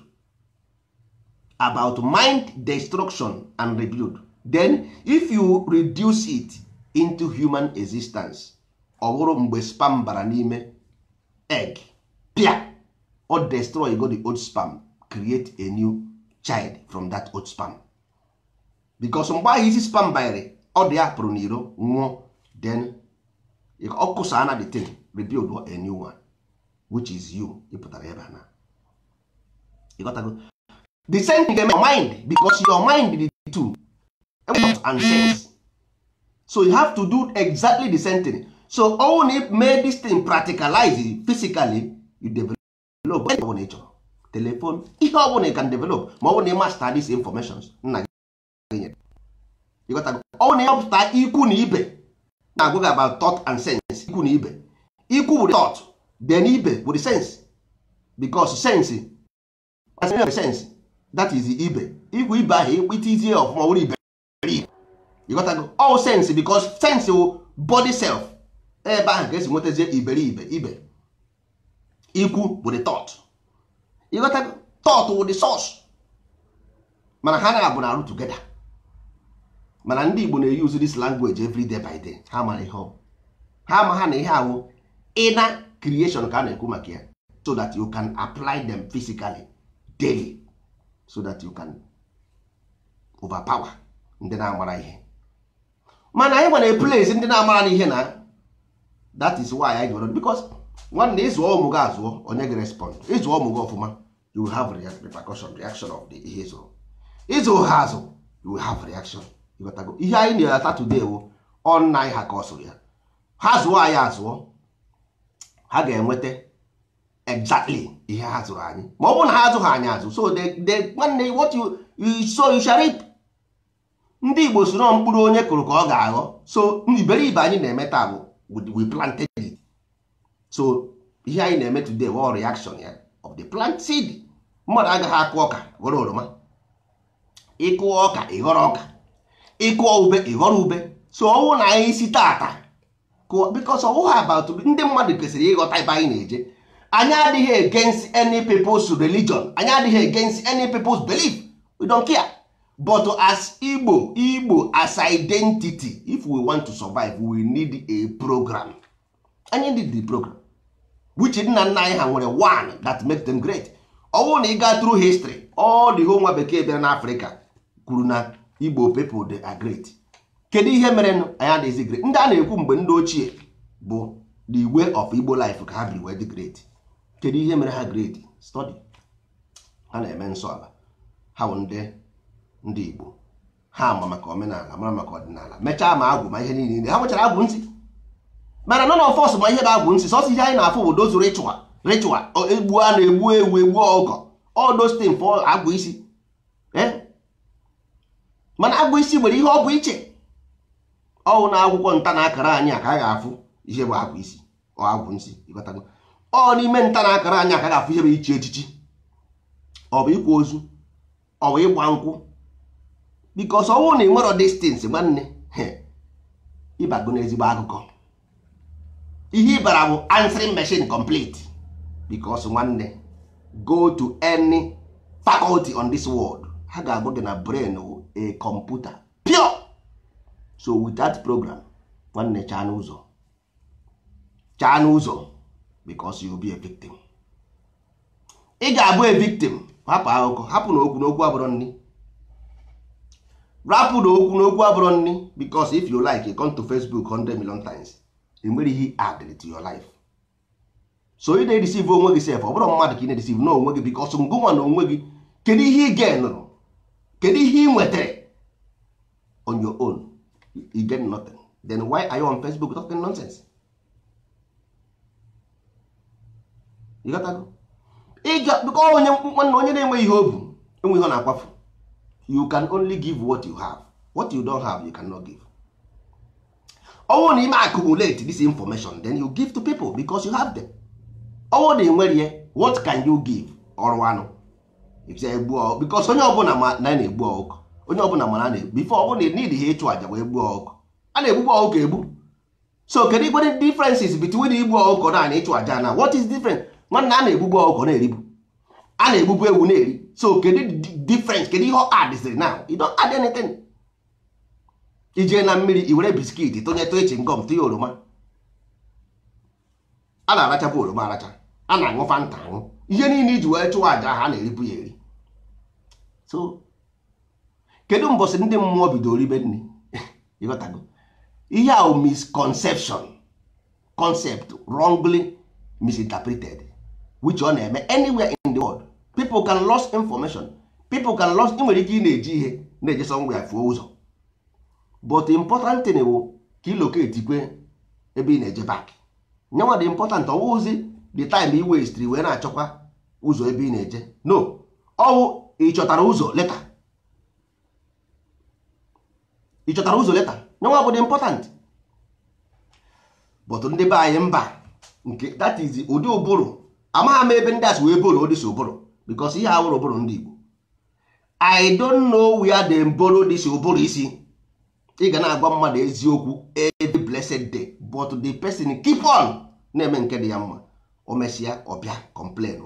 about mind destruction and rebuild then if you reduce it into human existence ọ bụrụ mgbe sperm bara n'ime egg pịa ọ destroygo the old sperm create a new child from that old sperm because mgbe ahụ isi sperm banyere ọdụ ya pụrụ n'iro nwụọ then ọ kụsa na the thing rebuild a new one which is you ị pụtara ebe a na ị ghọtago the same thing your mind because your mind dị thought and sense so you have to do exactly the same thing so ọ wụ na ị mee this thing practicalize physically you develop ihe ọbụla ị chọrọ telephone ihe ọbụla you can develop ma ọ bụ na ị master these informations nna gị nyere ị ghọtago ọ bụ na ị mapụta ikwu na ibe na-agwa gị about thought and sense ikwu na ibe ikwu bụ the thought then ibe bụ the sense because sense as in sense that is ibe ikwu ibe ahụ itizie ọfụma ọ bụrụ ibe ị ghọtago ọ wụ sense because sense wụ body self ebe ahụ ka e si nwetazie iberibe ibe ikwu bụ the thought ị ghọtago thought wụ the source mana ha naabọ na-arụ together mana ndị Igbo na-use this language every day by day ha mara ihe ọ ha amaha na ihe a wụ inner creation ka a na-ekwu maka ya so that you can apply them physically daily so that you can overpower ndị na-amara ihe mana anyị nwa replace ndị na-amara n'ihe na that is why anyị nwere because nwanne ị zụọ ụmụ gị azụọ o nye gị respond ị zụọ ụmụ gị ọfụma you will have repercussion reaction of the ihe ị zụrụ ị zụ ha azụ you will have reaction ị ghọtago ihe anyị na-ata today wụ ọ nna anyị ha causeụrụ ya ha zụọ anyị azụọ ha ga-enweta exactly ihe ha zụrụ anyị ma ọ bụrụ na ha azụghị anyị azụ so nwanne what you sow you shall reap ndị Igbo sị na mkpụrụ onye kụrụ ka ọ ga-aghọ so iberibe anyị na-eme taa bụ we planted it so ihe anyị na-eme today wụ reaction ya of the plant seed mmadụ agaghị akụ ọka ghọrọ oroma ị kụọ ọka ị ghọrọ ọka ị kụọ ube ị ghọrọ ube so ọ wụ na anyị si tata because ọ wụghị about ndị mmadụ kwesịrị ịghọta ebe anyị na-eje anyị adịghị against any people's religion anyị adịghị against any people's belief we don't care but as Igbo Igbo as identity if we want to survive we need a program anyị need the program which nna nna anyị ha nwere one that make them great ọwụ na ị gaa through history all the whole nwa bekee bịara n'Africa kwuru na Igbo people they are great kedu ihe mere anyị adịghịzi great ndị a na-ekwu mgbe ndị ochie bụ the way of Igbo life ka ha biri wee dị great kedu ihe mere ha great study ha na-eme nsọ ala ha bụ ndị ndị Igbo ha ma maka omenala mara maka ọdịnala mechaa ma agwụ ma ihe niile ha nwechara agwụ nsị mana none of us ma ihe bụ agwụ nsị sọsọ ihe anyị na-afụ bụ those ritual ritual egbu a na-egbu ewu egbu ọkụkọ all those things for agwụ isi eh? mana agwụ isi nwere ihe ọ bụ iche ọ wụ n'akwụkwọ nta na akara anyị a ka a ga-afụ ihe bụ agwụ isi or agwụ nsị ịghọtago ọ wụ n'ime nta na akara anyị a ka a ga-afụ ihe bụ ichi echichi ọ bụ ịkwa ozu ọ bụ ịgba nkwụ because ọ wụ na ị nwere these things nwanne ị bago n'ezigbo akụkọ ihe ị bara bụ answering machine complete because nwanne go to any faculty on this world ha ga-agwa gị na brain wụ a computer pure so with that program nwanne chaa n'ụzọ chaa n'ụzọ because you'll be a victim ị ga-abụ a victim hapụ akụkọ hapụ na okwu na okwu abụrọ nni rapụ na okwu na okwu abụrọ nni because if you like you come to Facebook 100 million times enwere ihe added to your life so ị na-edeceive onwe gị sef ọ bụrọ mmadụ ka ị na-edeceive na onwe gị because ngịnwa na onwe gị kedu ihe ị gainụrụ kedu ihe ị nwetara on your own you get nothing then why are you on Facebook talking nonsense ịga onye nwanne onye na-enweghị ihe o bu enwe ihe ọ na-akwafu you can only give what you have what you don't have you cannot give ọ wụ na i mee accumulate this information then you give to people because you have them ọ wụ na enwerọ ihe what can you give ọrụ anụ because onye ọbụla ma na na-egbu ọkụkọ onye ọbụla mara na-egbu ife ọbụla need ha ịchụ aja wee gbuo ọkụkọ a na-egbukwa ọkụkọ egbu so kedu ikwe differences between igbu ọkụkọ na na ịchụ aja na what is different nwanne a na-egbugbu ọkụkọ na-eribu a na-egbugbu ewu na-eri so kedu difference kedu ihe ị addziri now you don't add anything i jee na mmiri i were biscuit tụnyetụ chewing gum tụnye oroma a na-arachabu oroma aracha a na-aṅụ fanta aṅụ ihe niile e ji wee chụọ aja a na-eribu ya eri so kedu mbọsị ndị mmụọ bidoro ribe nri ị ghọtago ihe ahụ misconception concept wrongly misinterpreted which ọ na-eme anywhere in the world people can lost information people can lost ị nwere ike ị na-eji ihe na-eje somewhere fuo ụzọ but important thing bụ ka ị locatekwe ebe ị na-eje back nyenwa the important ọ wụzi the time i wastịrị wee na-achọkwa ụzọ ebe ị na-eje no ọ wụ ị chọtara ụzọ later ị chọtara ụzọ later nyenwa bụ the important but ndị be anyị mba nke that is ụdị ụbụrụ amaghị m ebe ndị a si wee borrow this ụbụrụ because ihe a awụrọ ụbụrụ ndị Igbo I don't know where they borrow this ụbụrụ isi ị ga na-agwa mmadụ eziokwu every blessed day but the person keep on na-eme nke dị ya mma o mesịa ọ bịa complain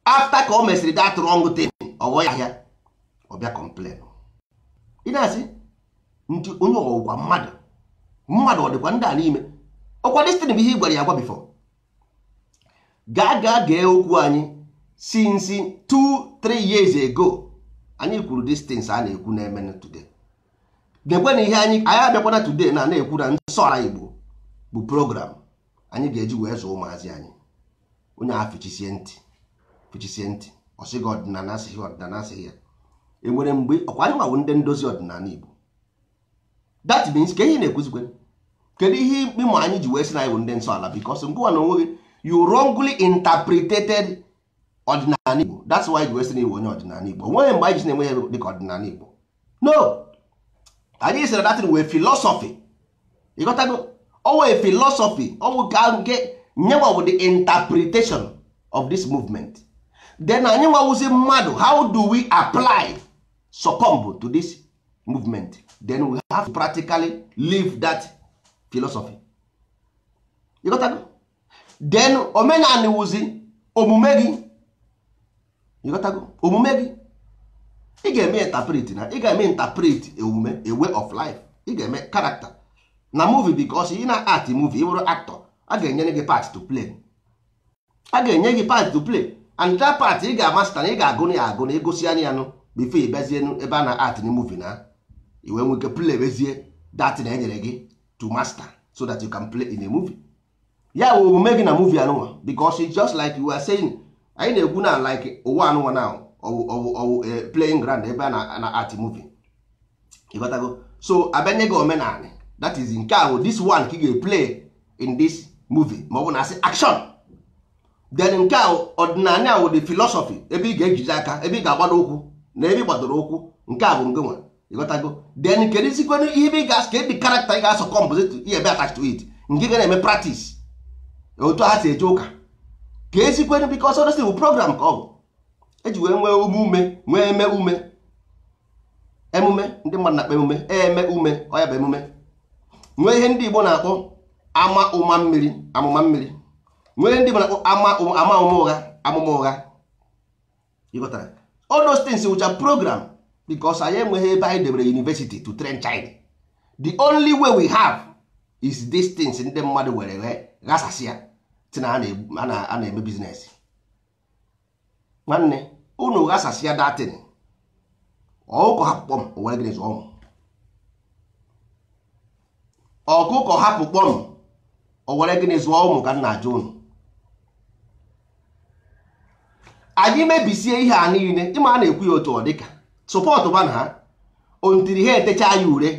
after ka o mesịrị that wrong thing ọ ghọ ya ahịa ọ bịa complain ị na-asị ndị onye ọ wụkwa mmadụ mmadụ ọ dịkwa ndị a n'ime ọ wụkwa this thing bụ ihe ị gwara ya agwa before gaa gaa gee okwu anyị since 2-3 years ago anyị kwuru these things a na-ekwu na-eme today nekwene ihe anyị anyị abịakwana today na na-ekwu na nsọ ala Igbo bụ program anyị ga-eji wee zụọ ụmụazị anyị onye ahụ fichisie ntị fichisie ntị ọ sị gị ọdịnala asịghị ọdịnala asịghị ya e nwere mgbe ọ kwa anyị nwa wụ ndị ndozi ọdịnala Igbo that means ka ihe na-ekwuzikwe kedu ihe ịma anyị ji wee sị na anyị bụ ndị nsọ ala because ngịwa na onwe gị you wrongly interpreted ọdịnala Igbo that's why ji wee sị na ị wụ onye ọdịnala Igbo o nweghị mgbe anyị ji na-ewe ya dịka ọdịnala Igbo no anyị sịrị that thing wụ a philosophy ị ghọtago ọ wụ a philosophy ọ wụ ka nke nyewa bụ the interpretation of this movement then anyị nwa wụzi mmadụ how do we apply succumb to this movement then we have to practically live that philosophy ị ghọtago? then omenani wụzi omume gị ị ghọtago? omume gị ị ga-eme interpret na ị ga-eme interpret omume a way of life ị ga-eme character na movie because ị na-act movie ị bụrụ actor a ga-enyere gị part to play a ga-enye gị part to play and that part ị ga-amasta na ị ga-agụ ya agụ na ị gụsịa ya nụ before ị bịazie ebe a na-act na movie na i wee nwee ike playzie that na enyere gị to master so that you can play in a movie ya wụ omume gị na movie anụnwa because it's just like we are saying anyị na-ekwu na like ụwa anụnwa na ọ wụ ọ wụ ọ wụ playing ground ebe a na-act movie ịghọtago so a bịa nye gị omenala that is nke ahụ this one ka ị ga-eplay in this movie ma ọ bụ na a sị action then nke ahụ ọdịnala ahụ the philosophy ebe ị ga-ejizi aka ebe ị ga-agbado ụkwụ na ebe ị gbadoro ụkwụ nke a bụ nke nwa ịghọtago then kedu isikwenụ ihe ebe ị ga-asụ ka the character ị ga-asọ composite ihe ebe attach to it nke ga na-eme practice otu ha si eje ụka ka esikwenụ because ọdịsị bụ program ka ọ bụ eji wee nwee ume ume nwee eme ume emume ndị mmadụ na-akpọ emume eme ume ọ ya bụ emume nwee ihe ndị Igbo na-akpọ ama ụma mmiri amụma mmiri nwee ihe ndị Igbo na-akpọ ama ama ụma ụgha amụma ụgha ịghọtara all those things which are program because anyị enweghị ebe anyị debere university to train child the only way we have is these things ndị mmadụ were ghasasịa sị na a na-eme business nwanne unu ghasasịa that thing ọkụkọ hapụ kpọm o were gịnị zụọ ụmụ ọkụkọ hapụ kpọm o were gịnị zụọ ụmụ ka m na-ajụ unu anyị mebisie ihe a niile ị ma a na-ekwu ya otu ọ dịka support ba na ha until ha etecha ya ure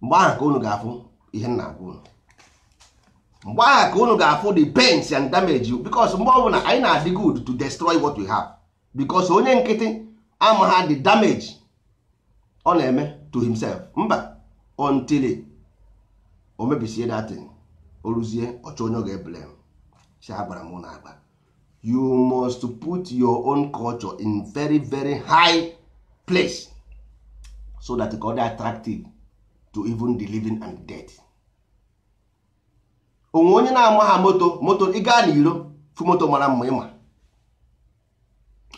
mgbe ahụ ka unu ga-afụ ihe m na-agwa unu mgbe ahụ ka unu ga-afụ the pains and damage because mgbe ọbụla anyị na-adị good to destroy what we have because onye nkịtị amaha the damage ọ na-eme to himself mba until o mebisie that thing o ruzie ọ chọọ onye ọ ga-eblame sị agwara m unu agwa you must put your own culture in very very high place so that ka ọ dị attractive to even the living and dead o nwe onye na-amaha moto moto ị ga n'iro fụ moto mara mma ị ma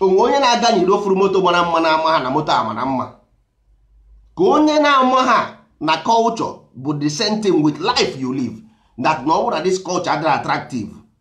o nwe onye na-aga n'iro fụrụ moto mara mma na-amaha na moto amara mma ka onye na-amaha na culture bụ the same thing with life you live that na ọ bụrụ na this culture adịghị attractive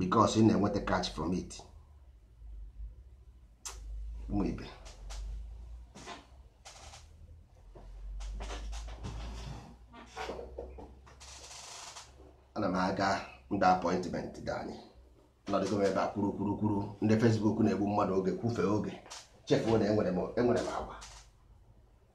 because ị na-enweta cash from it ụmụ ibe ana m aga ndị appointment dị anyị nọdụgo m ebe a kwuru kwuru kwuru ndị Facebook na-egbu mmadụ oge kwufee oge chefuo na enwere m enwere m agwa